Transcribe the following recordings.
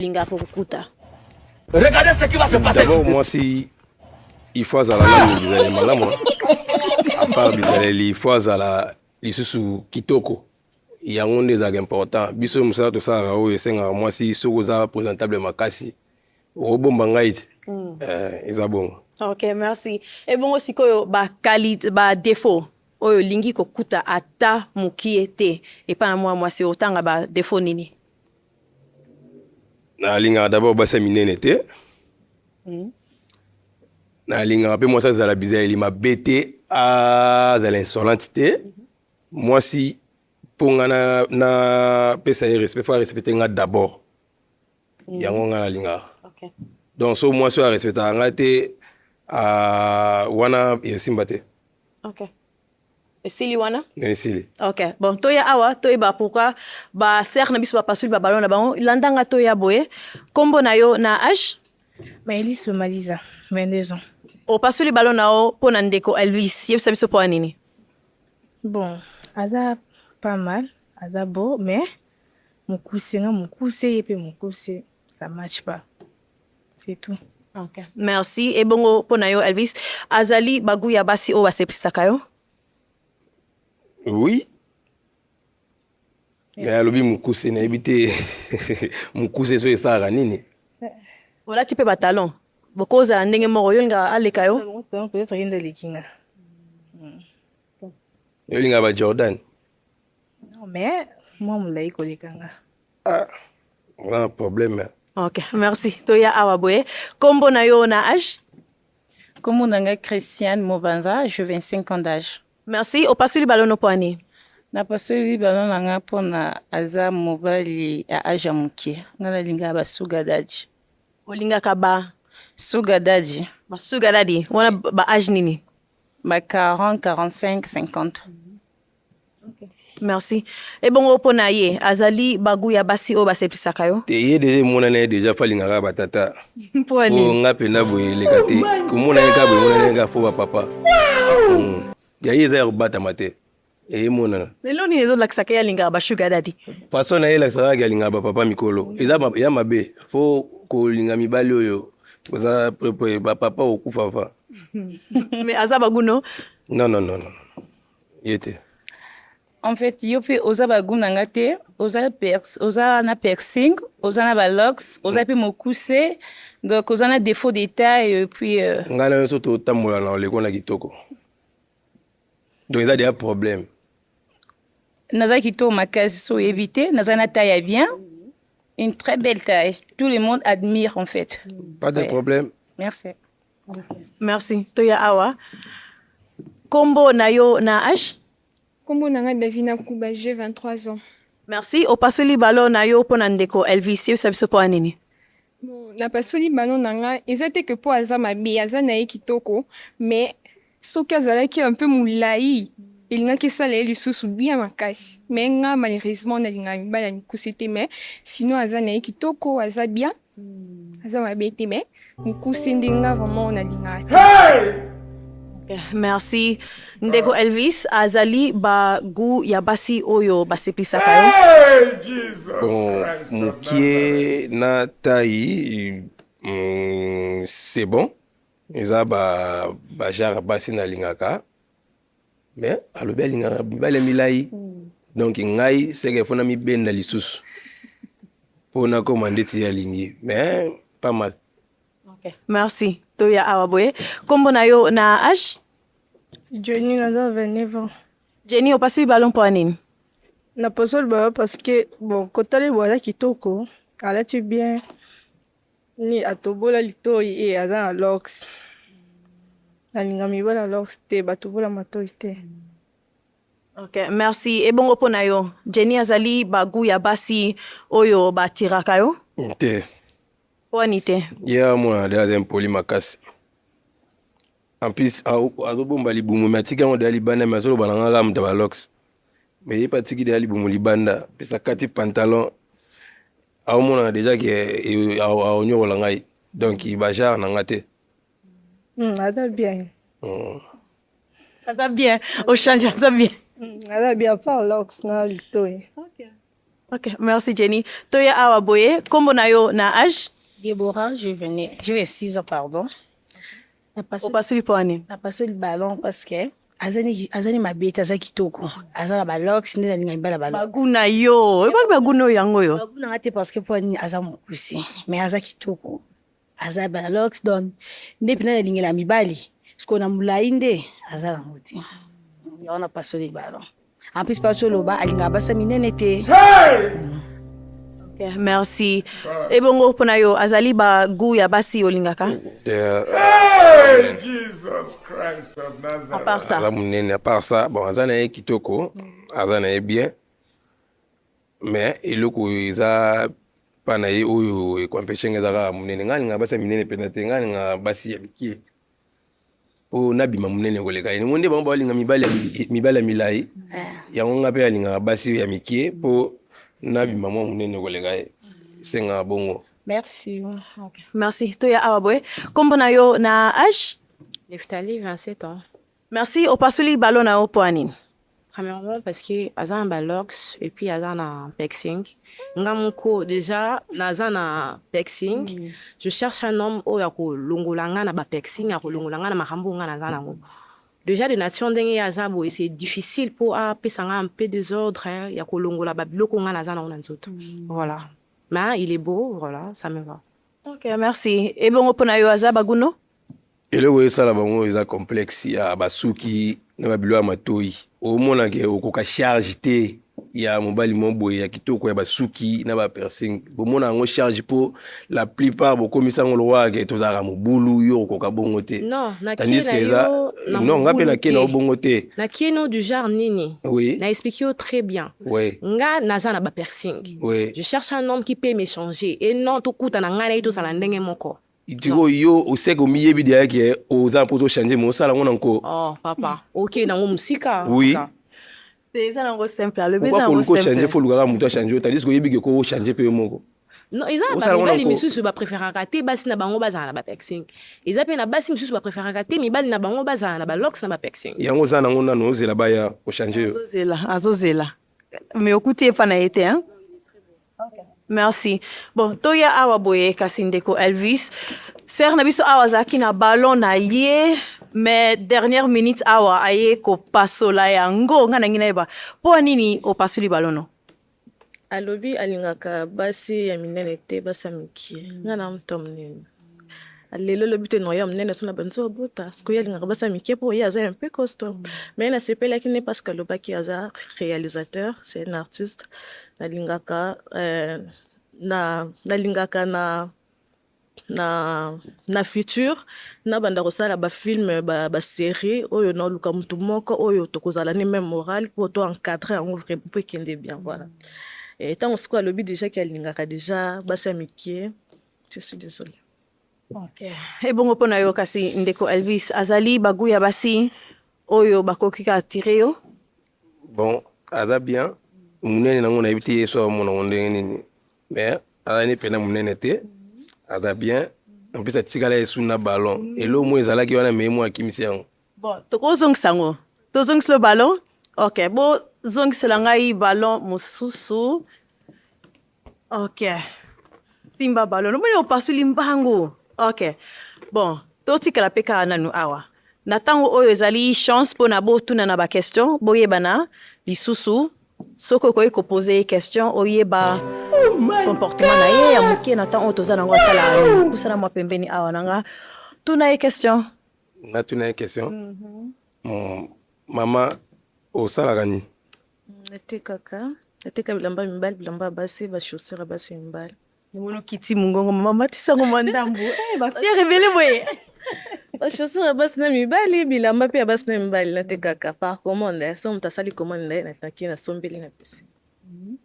lingaka kokuta Regardez ce qui va se passer. D'abord, moi, si il faut azala nanu bizaleli malamu apart bizaleli il faut azala lisusu kitoko yango nde ezalaka important biso mosala tosalaka oyo esengaka mwasi soki oza présentable makasi okobomba ngai ti mm. eh, eza bongo ok merci ebongo sikoyo baqualité badéfaut oyo olingi kokuta ata mokie te epai na mwa mwasi otanga badéfaut nini nalingaka dabord basi ya minene te hmm. nalingaka mpe mwasi azala bizaleli mabe te azala insolente te mwasi mpo nga napesa ye respect fo arespecte nga dabord hmm. yango nga nalingaka donc so mwasi oyo arespectaka nga te wana esimba te esili wana esili ok bon toya awa toyeba pourquoi ba sœur na biso bapasoli babalo na bango landanga toya boye nkombo na yo na age maelise lomaliza 22 ans opasoli balo na yo mpo na ndeko elvis yebisa biso mpo ya nini bon aza pas mal aza beau mais mokuse nga mokuse ye mpe mokuse ça match pas C'est tout. Okay. Merci. Et bongo pona yo Elvis, azali bagou ya basi oyo baseplisaka yo? Oui. Yes. Eh, alobi mukuse nayebi te mukuse so esalaka nini? Olati mpe batalon bokozala ndenge moko yo nga aleka yo? Peut-être ye nde aleki nga. Yo linga ba Jordan? Non mais mwa molai koleka nga. Ah, vraiment problème. Hein. Ok, merci. Toya awa boye. Kombo na yo na âge? Kombo na nga Christiane Mobanza, je 25 ans d'âge. Merci. Opasuli balo no poani. Na pasoli balo na nga pona aza mobali ya âge ya moke. Nga na linga ba sugar daddy. Olingaka ba sugar daddy. Ba sugar daddy. Wana ba âge nini? Ba 40, 45, 50. merci ebongo mpo na ye azali bagu ya basi oyo baseplisaka yo te ye deja emonani ye deja fo alingaka batata mpo oh, nga mpenza boye eleka te komona ye kaka boye emonani ye kaka fo bapapa hmm. ya ye eza ya kobatama te emonana lelo nini ezolakisaka ye alingaka bashuga dadi façon na ye elakisaka kaka alingaka bapapa mikolo eza ya mabe fo kolinga mibali oyo oza bapapa okufa fa me aza baguno non non non non ye te en fait yo mpe oza bagu na nga te oza, pers, oza na piercing oza na balox oza mpe mokuse donc oza na défaut d'état et puis euh... ngai na nyonso totambola na oleko na kitoko donc eza deya problème naza kitoko makasi so oyebi te naza na taille ya bien une très belle taille tout le monde admire en fait pas de ouais. problème merci Merci. Toya awa. Kombo na yo na H? Kombo na nga Davina Kuba, j'ai 23 ans. Merci. Opasoli balo na yo pona ndeko Elvis, yo sabiso po anini? napasoli bano na nga eza te ke mpo aza mabe aza na ye kitoko mais soki azalaki un peu mulayi elingaki esala ye lisusu bien makasi mais nga malheureusement nalingaka mibali ya mikuse te mais sinon aza na ye kitoko aza bien aza mabe te mais mokuse nde nga vraiment nalingaka te merci ndeko elvis azali bagu ya basi oyo baseplisaka yo bon mokie na tai mm, c'est bon eza ba ba genre basi nalingaka mais alobi alingaka mibali ya milai hmm. donc ngai seke fo namibenda lisusu mpo nakoma ndeti ye alingi mais pas mal okay. merci toya awa boye nkombo na yo na age jeni naza 29 ans jeni opasi libalo mpo ya nini naposo libalo parce que bon kotala libalo aza kitoko alati bien ni atobola litoyi e aza na lox nalinga mibala lox te batobola matoyi te mm. Ok, merci. Ebongo mpo na yo, Jenny azali bagu ya basi oyo batiraka yo? Te. Wani te? Ye yeah, amona deja aza impoli makasi. En plus, azobomba libumu me atiki yango deja libanda me azoloba na nga kaka moto ya balox. Me ye mpe atiki deja libumu libanda, mpe sakati pantalon aomonana deja ke aonyokola ngai donc bajare na nga te hmm, aza bien hmm. aza bien ochange aza bien hmm, aza bien par lox na litoye ok merci jenny toye awa boye nkombo na yo na age debora juvenil juve 6 ans pardon opasoli mpo ani napasoli balon parce que azani mabe te aza kitoko aza na balox nde nalinga mibala balogu na yo oyebaki bagu na oyo yango oyo bagu nanga te parce que mpo nini aza mokuse mais aza kitoko aza balox don nde mpena nalingela mibali sikoyo na molai nde aza nango te yango napasoli balon En plus Pacho Loba alingaka basa minene te. Yeah, merci. Ebongo mpo na yo azali ba goût ya basi olingaka? Euh, Hey, Jesus Christ of À Nazareth. part ça. aza monene à part ça bon aza na ye kitoko aza na ye bien mais eloko eza mpa na ye oyo ekoampeshe nga eza kaka monene ngai alingaka basi ya minene mpenza te ngai alingaka basi ya mikie po nabima monene koleka ye ningo nde bango balinga mibali ya milai eh. yango nga mpe alingaka basi ya mikie po nabima mwa monene koleka ye esengaka bongo merci okay. merci toya awa boye nkombo na yo na age leftali 27 ans merci opasoli balo na yo mpo ya nini Premièrement parce que aza na ba locks et puis aza na pexing. Nga moko déjà naza na pexing. Mm -hmm. Je cherche un homme oyo akolongola nga na ba pexing, akolongola nga na makambo nga naza nango. Mm -hmm. Déjà de nature ndenge ya aza boye c'est difficile mpo apesa nga un peu des ordres hein, ya kolongola babiloko nga naza nango na nzoto mm. voilà mais il est beau voilà ça me va ok merci ebongo mpo na yo aza baguno eloko esala bango eza complexe ya basuki na babilo ya matoi omonake okoka charge te ya mobali moko boye ya kitoko ya basuki na bapersing bomona yango charge mpo la plupart bokomisa yango lokola ke tozalaka mobulu yo okoka bongo te tandiske eza non nga mpe nakie na yo bongo te nakie no du genre nini oui. na explique yo très bien oui. nga naza na bapersing oui. je cherche un homme qui peut m'échanger et non tokutana ngai na ye tozala ndenge moko Tiko yo oseke omiyebi dia yake oza mpo tochange me osala yango na nko oh, papa okei nango mosika oui eza nango simple alobi eza nango simple change fo lukaka moto achange yo tandis oyebi ke ko ochange mpe yo moko non eza na bamibali misusu bapréféraka te basi na bango bazala na bapexing eza mpe na basi misusu bapréféraka te mibali na bango bazala na balox na bapexing yango oza nango nano ozela baya ochange yo azozela azozela me okuti epa na ye te hein? Merci. Bon, toya awa boye kasi ndeko Elvis. Sœur na biso awa azalaki na ballon na ye mais dernière minute awa aye kopasola yango nga nangi nayeba mpo nini opasoli ballon no alobi alingaka basi ya minene te basi ya mikie nga na moto ya monene lelo lobi te noye ya monene so na banzi obota sikoyo alingaka basi ya mike mpo ye aza ya mpe costo mai nasepelaki ne parce que alobaki aza réalisateur c'est un artiste nalingaka euh, na nalingaka na na na futur nabanda kosala bafilme baserie ba oyo naoluka motu moko oyo tokozala ne meme morale mpo to encadre yango vrai mpo ekende bien voilà ntango sikoyo alobi déjà ke alingaka déjà basi ya mikie Je suis désolée. Okay. ebongo mpo na yo kasi ndeko elvis azali bagu ya basi oyo bakoki ka attire yo bon aza bien monene nango nayebi te yesu amona ngo ndenge nini mais aza ne mpena monene te aza bien mpesa atikala yesu na ballon elo mo ezalaki wana mei mo akimisi yango bon tokozongisa yango tozongiselo ballon ok bozongisela ngai ballon mosusu Ok. Simba ballon. Omoni opasuli mbangu. Ok. Bon, totikala mpe kaka nanu awa. Na ntango oyo ezali chance mpo na botuna na baquestion, boyebana lisusu soki okoki kopose ye question oyeba oh comportement na ye ya moke na ntango oyo toza nango asala pusana mwa pembeni awa na nga tuna ye question natuna ye question mm -hmm. mama osalaka nini natekaka nateka bilamba ya mibali bilamba ya basi bachaussure ya basi ya mibali mono kiti mongongo mama matisango mwa ndambo eh, bafiere ebele boye bachaussure ya basi na mibali bilamba mpe ya basi na mibali natekaka par commande so moto asali commande na ye nataki nasombeli na pesi mhm.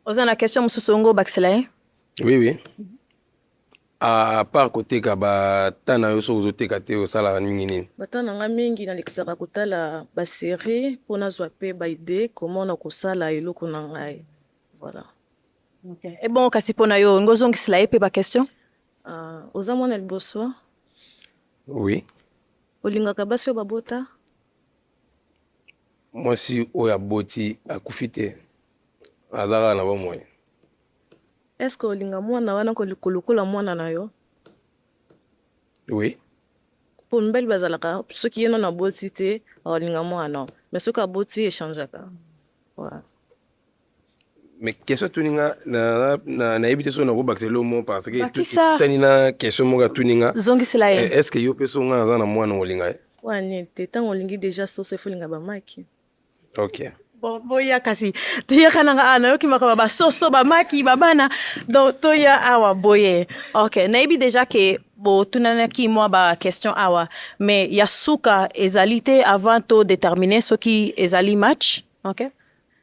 oza na question mosusu ongo obakisela ye oui oui A part koteka bata na yo soki ozoteka te osalaka mingi nini? Bata na nga mingi nalekisaka kotala ba serie mpo nazwa mpe ba idee comment na kosala eloko na ngai voilà. Okay. E bon kasi mpo na yo olingi ozongisela ye mpe ba question? Uh, oza mwana liboso? Oui. Olingaka basi oyo babota? Mwasi oyo aboti akufi te, azalaka na bomoi. Est ce que olinga mwana wana koliko lokola mwana na yo? Oui. Mpo mibali bazalaka soki ye nono aboti te akolinga mwana mais soki aboti echangaka. Voilà. mais question atuni nga nayebi te soki nakobakisa elo mo parce que etani na question moko atuni nga zongisela ye eh, est ce que yo mpe so nga naza na mwana olinga ye wana te ntango olingi déjà soso efolinga bamaki okay. Bon, boya kasi toyaka nanga awa nayoki makambo basoso bamaki babana donc toya awa boye ok nayebi déjà ke botunanaki mwa baquestion awa mais ya suka ezali te avant to détermine soki ezali match ok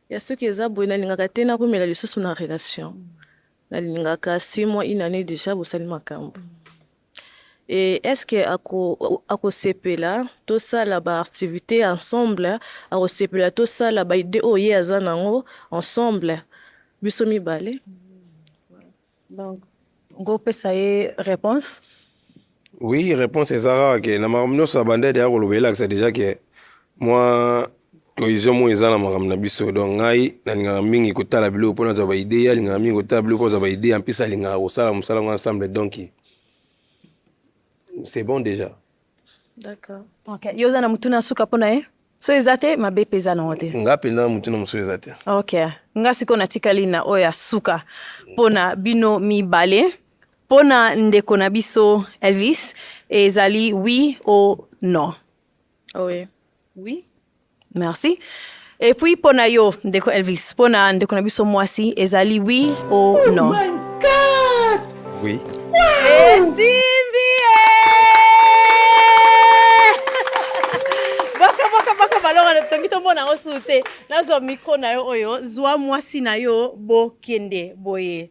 ya soki eza boye nalingaka te nakomela lisusu na relation nalingaka six mois une année déjà bosali makambo mm. Et est-ce que ako akosepela tosala ba activité ensemble akosepela tosala ba idée oyo ye aza nango ensemble biso mibale donc ngopesa ye réponse oui réponse ezaka ke na makambo nyonso abandade ya koloba elakisa déjà ke mwa cohésion moko eza na makambo na biso donc ngai nalingaka mingi kotala biloko mpo nazwa baide ye alingaka mingi kotala biloko mpo azwa baide ya mpesi alingaka kosala mosala yango ensemble donc c'est bon déjà d'accord ok yo oza na motuna ya suka mpo na ye so eza te mabe mpe eza nango te nga mpenza na motuna mosusu eza te ok nga sikoyo natikali na oyo ya suka mpo na bino mibale mpo na ndeko na biso elvis ezali oui o non Oui. Oui. Merci. Et puis pona yo ndeko Elvis, pona ndeko na biso mwasi ezali oui ou oh non. Oh my god. Oui. Wow. Esimbi. toki tomona yango suu te nazwa mikro na yo oyo zwa mwasi na yo bokende boye